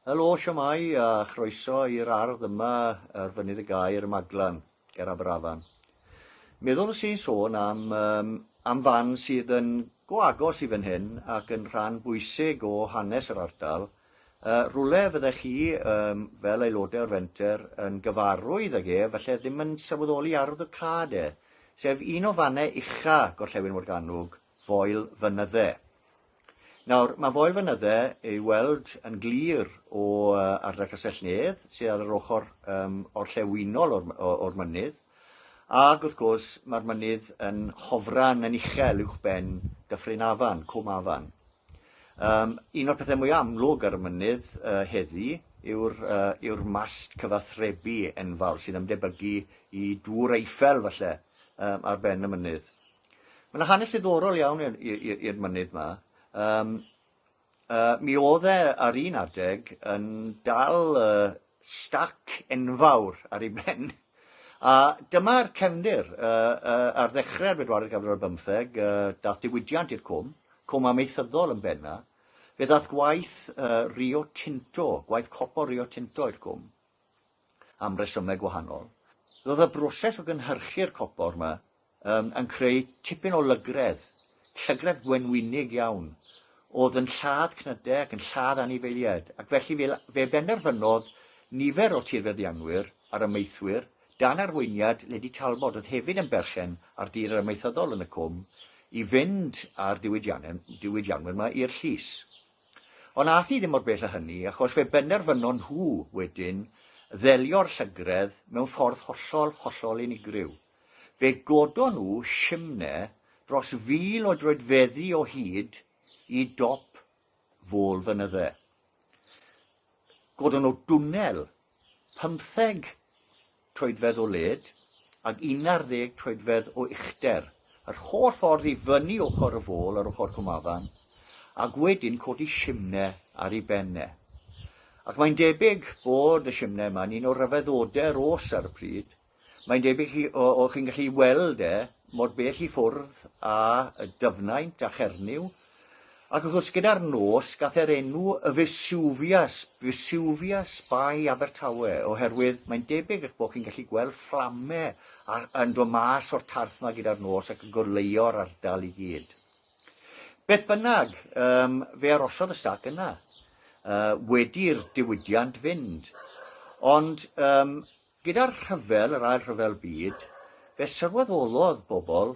Helo, siamai a chroeso i'r ardd yma ar Fynydd y Gaer y Maglan, ger Aberafan. Meddwl nes i'n sôn am, um, am fan sydd yn go agos i fan hyn ac yn rhan bwysig o hanes yr ardal, Yy, rwle fyddech chi, yym, fel aelodau o'r fenter, yn gyfarwydd ag ef, falle ddim yn sylweddoli arwyddocâd e, sef un o fannau ucha gorllewin Morgannwg, Foel Fynydde. Nawr, mae Foel Fynydde ei weld yn glir o ardal Castell Nedd, sydd ar yr ochr um, orllewinol o'r, o'r mynydd, ac wrth gwrs mae'r mynydd yn hofran yn uchel uwch ben Dyffryn Afan, Cwm Afan. Yym, un o'r pethau mwy amlwg ar y mynydd uh, heddi yw'r uh, yw mast cyfathrebu enfawr sy'n ymdebygu i dŵr Eiffel falle um, ar ben y mynydd. Mae yna hanes ddiddorol iawn i'r mynydd yma. Um, uh, mi oedd e ar un adeg yn dal uh, stac enfawr ar ei ben. A dyma'r cefndir. Ar ddechrau'r bedwaredd ganrif ar bymtheg, dath diwydiant i'r cwm, cwm amaethyddol yn benna. Fe ddath gwaith Rio Tinto, gwaith copor Rio Tinto i'r cwm, am resymau gwahanol. Roedd y broses o gynhyrchu'r copor yma Ym, yn creu tipyn o lygredd, llygredd wenwynig iawn. O'dd yn lladd cnyde ac yn lladd anifeiliaid, ac felly fe, fe benderfynodd nifer o tirfeddianwyr a'r amaethwyr, dan arweiniad Lady Talbot oedd hefyd yn berchen ar dir yr amaethyddol yn y cwm, i fynd â'r diwydianwyr 'ma i'r llys. Ond ath hi ddim mor bell â hynny, achos fe benderfynon nhw wedyn ddelio'r llygredd mewn ffordd hollol, hollol unigryw. Fe godon nhw simne dros fil o droedfeddi o hyd i dop Fôl Fynydde. Godon nhw dwnnel pymtheg troedfedd o led ac unarddeg troedfedd o uchder, yr holl ffordd i fyny ochr y fôl ar ochr Cwmafan, ac wedyn codi simne ar ei ben e. Ac mae'n debyg bod y simne yma'n un o ryfeddodau'r oes ar y pryd, Mae'n debyg chi, o, o chi'n gallu weld e, mor bell i ffwrdd a y dyfnaint a Chernyw, ac wrth gwrs gyda'r nos gath e'r enw y Vesuvius, Vesuvius by Abertawe, oherwydd mae'n debyg eich bod chi'n gallu gweld fflame yn dod mas o'r tarth yma gyda'r nos ac yn goleuo'r ardal i gyd. Beth bynnag, um, fe arosodd y stac yna, uh, wedi'r diwydiant fynd. Ond um, Gyda'r rhyfel, yr Ail Rhyfel Byd, fe sylweddolodd bobl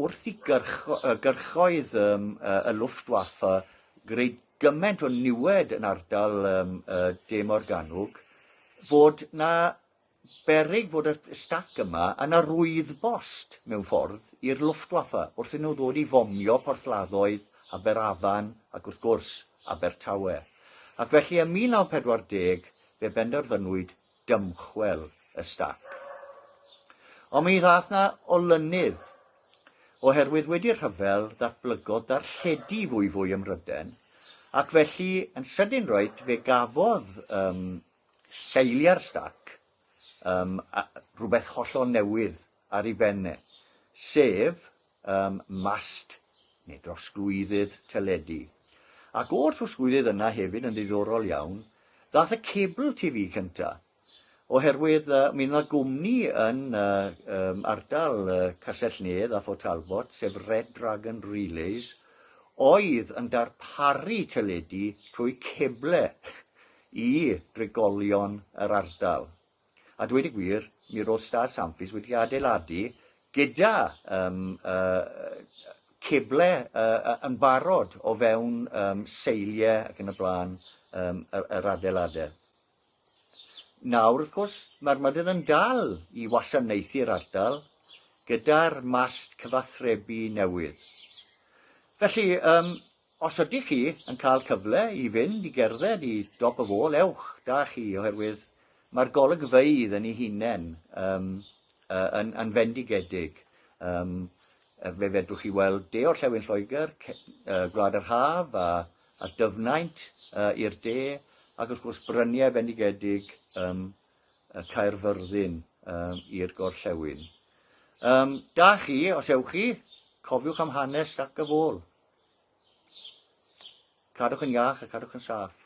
wrth i gyrchoedd y Luftwaffe greu gymaint o niwed yn ardal De Morgannwg fod 'na berig fod y stac yma yn arwydd-bost, mewn ffordd, i'r Luftwaffe wrth iddyn nhw ddod i fomio porthladdoedd Aberafan ac, wrth gwrs, Abertawe. Ac felly, ym 1940, fe benderfynwyd dymchwel y stac. Ond mi ddaeth na olynydd, oherwydd wedi'r rhyfel ddatblygodd darlledu fwyfwy ym Mhryden, ac felly yn sydyn roed fe gafodd um, seiliau'r stac um, rhywbeth hollol newydd ar ei ben e, sef ym mast neu drosglwyddydd teledu. Ac o'r trosglwyddydd yna hefyd, yn ddiddorol iawn, ddaeth y cable TV cynta, oherwydd uh, mi yna gwmni yn uh, um, ardal uh, Castell-nedd a Fort Talbot, sef Red Dragon Relays, oedd yn darparu teledu trwy ceble i drigolion yr ardal. A dweud y gwir, mi roedd Star Samfis wedi adeiladu gyda um, uh, ceble uh, yn barod o fewn um, seiliau ac yn y blaen um, yr, yr adeiladau. Nawr, wrth gwrs, mae'r mynydd yn dal i wasanaethu'r ardal gyda'r mast cyfathrebu newydd. Felly, um, Os ydych chi yn cael cyfle i fynd i gerdded i dop y fôl, ewch, da chi, oherwydd mae'r golygfeydd yn ei hunain um, uh, yn, yn fendigedig. Um, fe fedrwch chi weld de orllewin Lloegr, uh, Gwlad yr Haf a, a dyfnaint uh, i'r de, ac wrth gwrs bryniau bendigedig um, y Caerfyrddin um, i'r gorllewin. Um, da chi, os ewch chi, cofiwch am hanes ac y fôl. Cadwch yn iach a cadwch yn saff.